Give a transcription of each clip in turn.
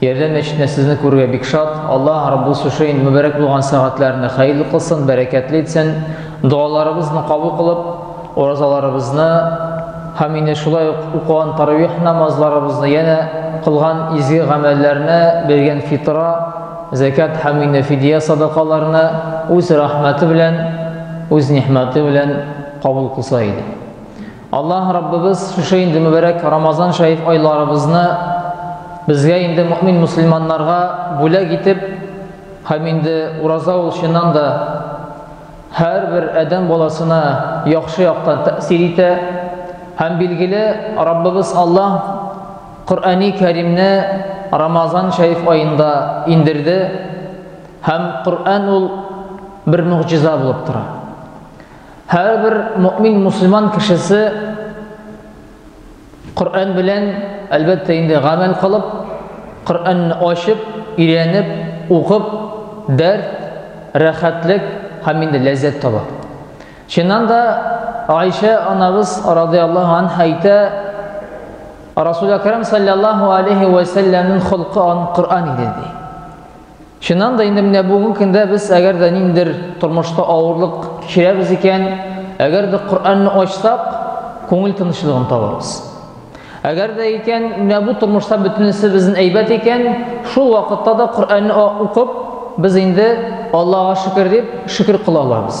Ярдәм мәчетенә сезне күрергә бик шат. Аллаһ Раббул Сушейн мөбәрәк булган сәгатьләрне хәерле кылсын, бәрәкәтле итсен. Догаларыбызны кабул кылып, уразаларыбызны һәм инде шулай ук укыган таравих намазларыбызны янә кылган изге гамәлләрне, биргән фитра, зәкят һәм инде фидия садакаларны үз рәхмәте белән, үз нигъмәте белән кабул кылса иде. Аллаһ Раббыбыз шушы инде мөбәрәк Рамазан шәриф айларыбызны безгә инде мөмин мусульманнарга бүләк итеп, һәм инде ураза ул чыннан да һәрбер адәм баласына яхшы яктан тәэсир итә. Һәм билгеле, Раббыбыз Аллаһ Коръәни Кәримне Рамазан шәриф аенда индерде. Һәм Коръән ул бер мөгъҗиза булып тора. Һәрбер мөмин мусульман кешесе Коръән белән әлбәттә инде гамәл кылып, Коръәнне ачып, өйрәнеп, укып, дәрт, рәхәтлек һәм инде ләззәт таба. Чыннан да Айша анабыз радиаллаһу анһа әйтә, Расул Акрам саллаллаһу алейхи ва саллямның холкы ан Коръән иде ди. Чыннан да инде менә бүгенге көндә без әгәр дә ниндидер тормышта авырлык кичерәбез икән, әгәр дә Коръәнне ачсак, күңел тынычлыгын табабыз. Әгәр дә икән, менә бу тормышта бөтенесе безнең әйбәт икән, шул вакытта да Коръәнне укып, без инде Аллага шөкер дип шөкер кыла алабыз.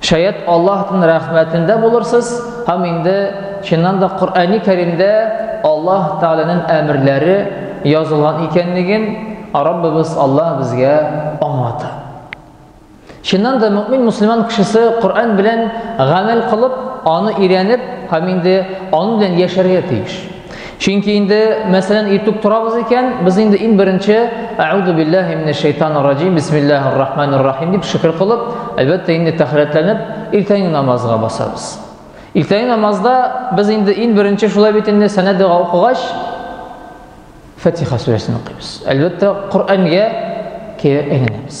Шәят Аллаһтын рәхмәтендә булырсыз һәм инде чыннан да Коръәни Кәримдә Аллаһ Тәгаләнен әмерләре язылган икәнлеген Раббыбыз Аллаһ безгә аңлата. Чыннан да мөэмин мөселман кешесе Коръән белән гамәл кылып, аны өйрәнеп һәм инде аны белән яшәргә тиеш. Чөнки инде, мәсәлән, иртүк торабыз икән, без инде иң беренче Әгъуду биллаһи минәш шайтанир раҗим, бисмиллаһир рахманир рахим дип шөкер кылып, әлбәттә, инде тәхәрәтләнеп, иртәнге намазга басабыз. Иртәнге намазда без инде иң беренче шулай бит инде сәнә дога укыгач, Фатиха сүрәсен укыйбыз. Әлбәттә, Коръәнгә кире әйләнәбез.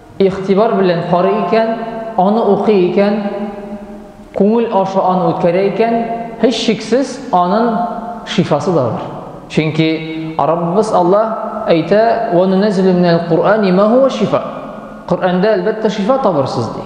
Игътибар белән карый икән, аны укый икән, күңел аша аны үткәрә икән, һичшиксез анын шифасы да бар. Чөнки Раббыбыз Аллаһ әйтә, Вә нунәзилү минәл Куръани ма һуа шифа. Коръәндә, әлбәттә, шифа табырсыз, ди.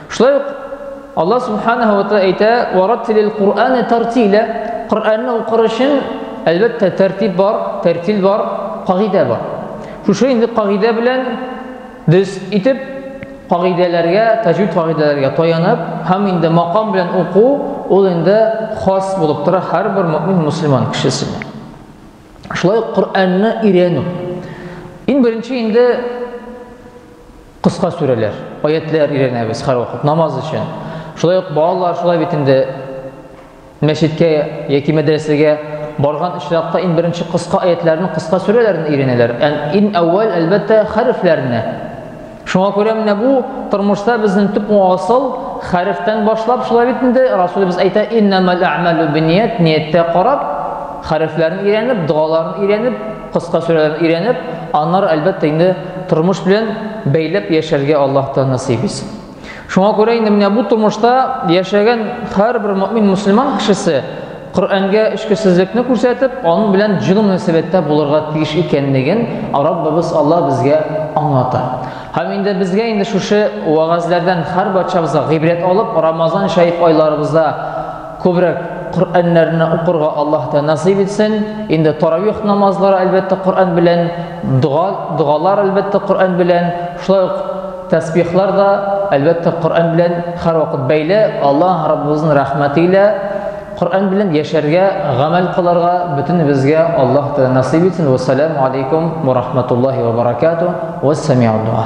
Шулай ук Аллаһ Субханаһу ва Тааля әйтә, "Вараттилил Куръана тартиля", Коръәнне укыр өчен, әлбәттә, тәртип бар, тәртил бар, кагыйдә бар. Шушы инде кагыйдә белән без итеп кагыйдәләргә, таҗвид кагыйдәләргә таянып, һәм инде макам белән уку, ул инде хас булып тора һәрбер мөмин мусульман кешесенә. Шулай ук Коръәнне өйрәнү. Иң беренче инде Кыска сүрәләр, аятьләр өйрәнәбез һәрвакыт намаз өчен. Шулай ук балалар шулай бит инде мәчеткә яки мәдрәсәгә барган очракта иң беренче кыска аятьләрне, кыска сүрәләрне өйрәнәләр. Һәм иң әүвәл, әлбәттә, хәрефләрне. Шуңа күрә менә бу тормышта безнең төп асыл хәрефтән башлап, шулай бит инде Расулыбыз әйтә: "Иннамал а'малу бинният", нияттә карап, хәрефләрне өйрәнеп, догаларын өйрәнеп, Кыска сүрәләрне өйрәнеп, аннары әлбәттә инде тормыш белән бәйләп яшәргә Аллаһтан насыйп итсен. Шуңа күрә инде менә бу тормышта яшәгән һәрбер мөмин мусульман кешесе Коръәнгә эчкесезлекне күрсәтеп, аның белән җылы мөнәсәбәттә булырга тиеш икәнлеген Раббыбыз Алла безгә аңлата. Һәм инде безгә инде шушы вагазлардан һәр барчабызга гыйбрәт алып, Рамазан шәриф айларыбызда Күбрәк Коръәннәрне укырга Аллаһ та насыйп итсен. Инде таравих намазлары әлбәттә Коръән белән, дога, догалар әлбәттә Коръән белән, шулай ук тәсбихлар да әлбәттә Коръән белән һәрвакыт бәйле. Аллаһ Раббыбызның рәхмәте илә Коръән белән яшәргә, гамәл кылырга бөтенебезгә Аллаһ та насыйп итсен. Вассаламу алейкум ва рахматуллаһи ва баракатуһ. Вассами'уд-дуа.